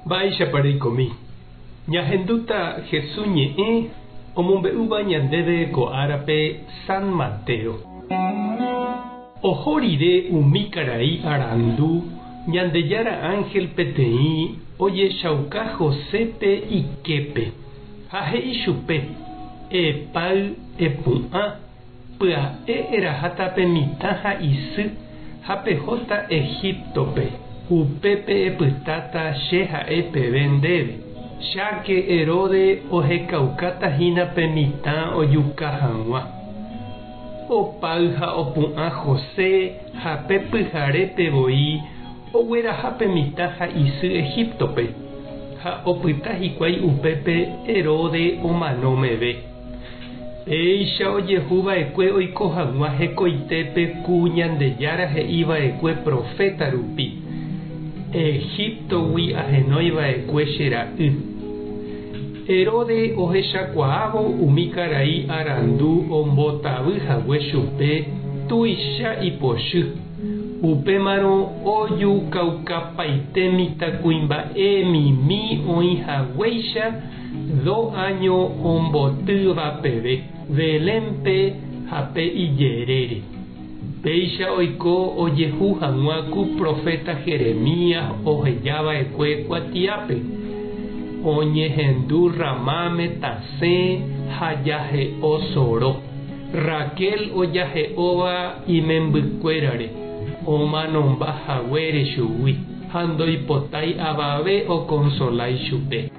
Mba'éichapa reikomi? Ñahendúta Jesús ñe'ẽ omombe'úva ñandéve ko árape San Mateo. Oho rire umi karai arandu Ñandejára ánhel peteĩ ojechauka Josépe iképe ha he'i chupe, Epáy, epu'ã. Pya'e eraháta pe mitã ha isy, ha pehóta Egíptope. Upépe epytáta Che ha'e peve ndéve, Cháke Heróde ohekaukáta hína pe mitã ojuka hag̃ua. Opáy ha opu'ã José ha pe pyharépe voi ogueraha pe mitã ha isy Egíptope, ha opyta hikuái upépe Heróde omano meve. Péicha ojehu va'ekue oiko hag̃ua hekoitépe ku Ñandejára he'i va'ekue proféta rupi, Egíptogui ahenói va'ekue che ra'y. Heróde ohechakuaávo umi karai arandu ombotavy hague chupe tuicha ipochy, upémarõ ojukaukapaite mitãkuimba'e mimi oĩ haguéicha Do áño ombotýva peve Belénpe ha pe ijerére. Péicha oiko ojehu hag̃ua ku proféta Jeremías oheja va'ekue kuatiápe, Oñehendu Ramáme tasẽ ha jahe'o soro. Raquel ojahe'óva imembykuérare omanomba haguére chugui ha ndoipotái avave okonsolái chupe.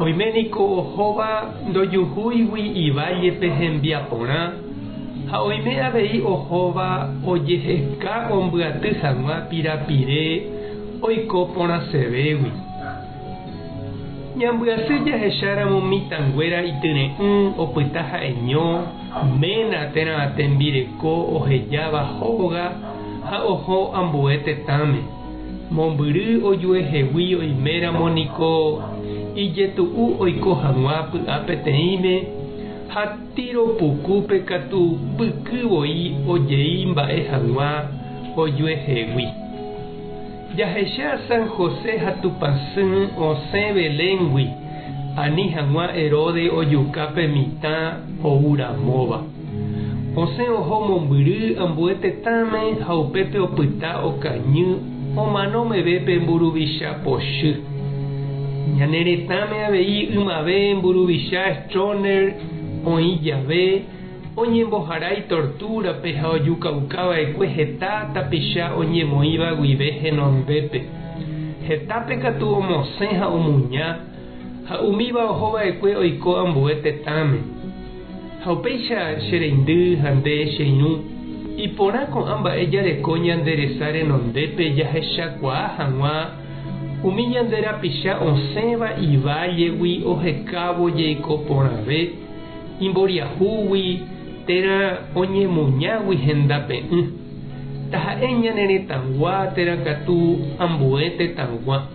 Oime niko ohóva ndojuhúigui ivállepe hembiaporã ha oime avei ohóva ojeheka ombyaty hag̃ua pirapire oiko porãsevégui. Ñambyasy jahecháramo mitãnguéra ityre'ỹ opyta ha'eño ména térã tembireko ohejáva hóga ha oho ambue tetãme. Mombyry ojuehegui oiméramo niko ijetu'u oiko hag̃ua py'a peteĩme ha Tiro pukúpe katu pyky voi ojei mba'e hag̃ua ojuehegui. Jahecha San José ha Tupãsy osẽ Beléngui ani hag̃ua Heróde ojuka pe mitã ou ramóva. José oho mombyry ambue tetãme ha upépe opyta okañy omano meve pe mburuvicha pochy. Ñane retãme avei ymave mburuvicha Stroner oĩ jave, oñembohara itortúrape ha ojukauka va'ekue heta tapicha oñemoĩva guive henondépe. Hetápe katu omosẽ ha omuña, ha umíva oho va'ekue oiko ambue tetãme. Ha upéicha che reindy ha nde che irũ, iporã ko'ã mba'e jareko ñande resa renondépe jahechakuaa hag̃ua umi ñande rapicha osẽva ivállegui ohekávo jeiko porãve, imboriahúgui térã oñemuñágui henda pe'ỹ. Taha'e ñane retãgua térã katu ambue tetãgua.